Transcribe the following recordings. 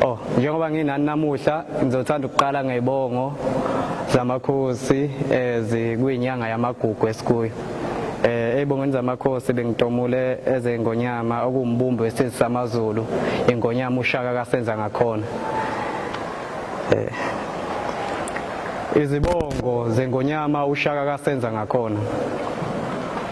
Oh, njengoba nginani namuhla ngizothanda ukuqala ngebongo zamakhosi ezikwinyanga eh, yamagugu esikuyo. Eh ebongweni zamakhosi bengitomule ezengonyama okumbumbi wesizwe samaZulu ingonyama ushaka kasenza ngakhona. Eh Izibongo zengonyama ushaka kasenza ngakhona.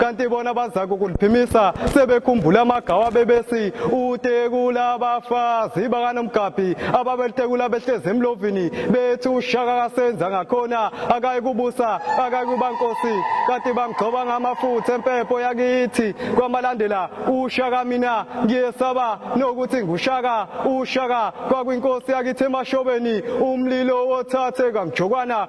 kanti bona bazaka ukuliphimisa sebekhumbula amagawa bebesi utekula abafazi bakanomgabhi ababelitekula behlezi emlovini bethi ushaka kasenza ngakhona akayikubusa akayikuba nkosi kanti bamgcoba ngamafutha empepho yakithi kwamalandela ushaka mina ngiyesaba nokuthi ngushaka ushaka kwakwinkosi yakithi emashobeni umlilo wothathe kamjokwana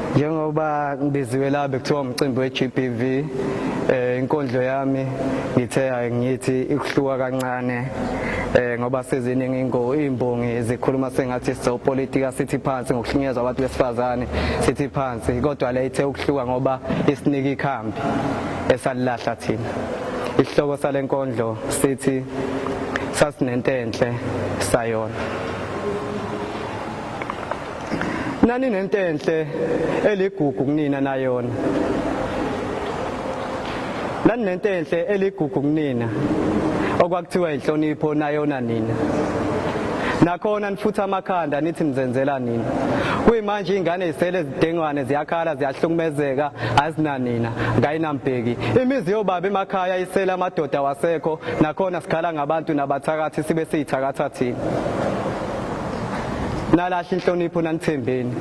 njengoba ngibiziwe la bekuthiwa umcimbi we-GBV eh inkondlo yami ngithe ngithi ikuhluka kancane eh ngoba seziningi ingo imbongi zikhuluma sengathi so politika sithi phansi ngokuhlunyezwa abantu besifazane sithi phansi kodwa le ithe ukuhluka ngoba isinika ikhambi esalilahla thina isihloko salenkondlo sithi sasinentenhle sayona Naninentenhle eligugu kunina nayona. Naninentenhle eligugu kunina okwakuthiwa inhlonipho nayona nina. Nakhona nifutha amakhanda nithi nizenzela nina. Kuyimanje ingane isele zidengwane ziyakhala ziyahlukumezeka azinanina ngayinambheki. Imizi yobaba emakhaya isele amadoda wasekho nakhona sikhala ngabantu nabathakathi sibe siyithakatha thina. nalahla inhlonipho nanithembeni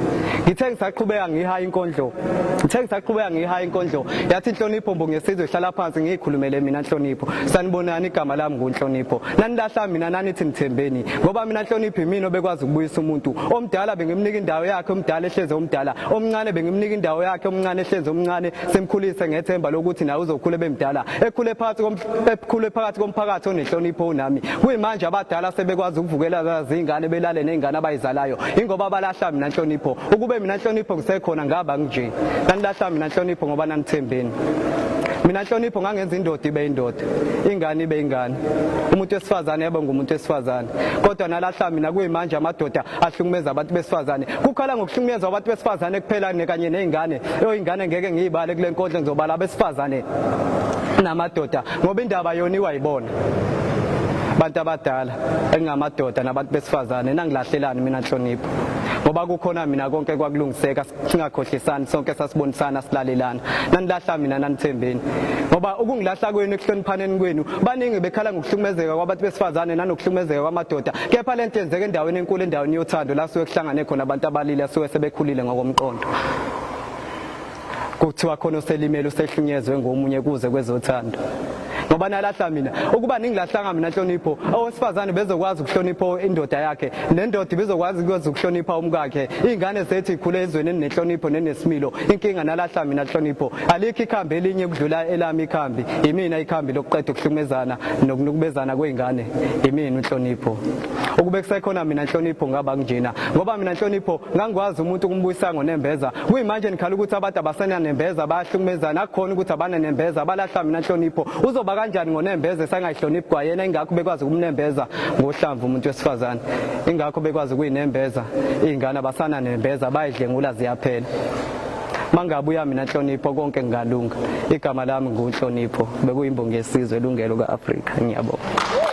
ngithe ngisaqhubeka ngihaya inkondlo ngithe ngisaqhubeka ngihaya inkondlo yathi inhlonipho mbongesizwe hlala phansi ngiyikhulumele mina nhlonipho sanibonani igama lami ngunhlonipho nanilahla mina nanithi nithembeni ngoba mina nhlonipho imina obekwazi ukubuyisa umuntu omdala bengimnika indawo yakhe omdala ehleze omdala omncane bengimnika indawo yakhe omncane ehleze omncane simkhulise ngethemba lokuthi naye uzokhula bemdala ekhule phansi Ekhule phakathi komphakathi onenhlonipho unami. Kuyimanje abadala sebekwazi ukuvukela izingane belale nezingane abayizalayo. Ingoba balahla mina nhlonipho. Ukube mina nhlonipho ngisekhona ngaba nje. Nanilahla mina nhlonipho ngoba nanithembeni. Mina nhlonipho ngangenza indoda ibe indoda, ingane ibe ingane. Umuntu wesifazane yebo ngumuntu wesifazane. Kodwa nalahla mina kuyimanje amadoda ahlukumeza abantu besifazane kukhala ngokuhlukunyezwa abantu besifazane kuphela kanye nezingane oyingane ngeke ngiyibale kule nkondlo ngizobala abesifazane namadoda ngoba indaba yona iwayibona abantu abadala engingamadoda nabantu besifazane nangilahlelani mina nhlonipho ngoba kukhona mina konke kwakulungiseka singakhohlisani sonke sasibonisana silalelana nanilahla mina nanithembeni ngoba ukungilahla kwenu ekuhloniphaneni kwenu baningi bekhala ngokuhlukumezeka kwabantu besifazane nanokuhlukumezeka kwamadoda kepha le nto yenzeka endaweni enkulu endaweni yothando la suke kuhlangane khona abantu abalile asuke sebekhulile ngokomqondo kuthiwa khona oselimele usehlunyezwe ngomunye kuze kwezothando ngoba nalahla mina ukuba ningilahlanga mina nhlonipho owesifazane bezokwazi ukuhlonipha indoda yakhe nendoda ibizokwazi ukwazi ukuhlonipha umkakhe iy'ngane zethu ikhule ezweni eninenhlonipho nenesimilo inkinga nalahla mina nhlonipho alikho ikhambi elinye ukudlula elami ikhambi yimina ikhambi lokuqeda ukuhlumezana nokunukubezana kwey'ngane yimina unhlonipho ukube kusekhona mina nhlonipho ngaba kunjena ngoba mina nhlonipho ngangikwazi umuntu ukumbuyisa ngonembeza kuyimanje nikhala ukuthi abantu abasenanembeza bayahlukumezana akukhona ukuthi abananembeza balahla mina nhlonipho uzoba kanjani ngonembeza esangayihloniphi kwayena ingakho bekwazi ukumnembeza ngohlamvu umuntu wesifazane ingakho bekwazi ukuyinembeza iy'ngane abasananembeza bayidlengula ziyaphela mangabuya mina nhlonipho konke ngingalunga igama lami ngunhlonipho bekuyimbongi yesizwe elungelo ka-afrika ngiyabonga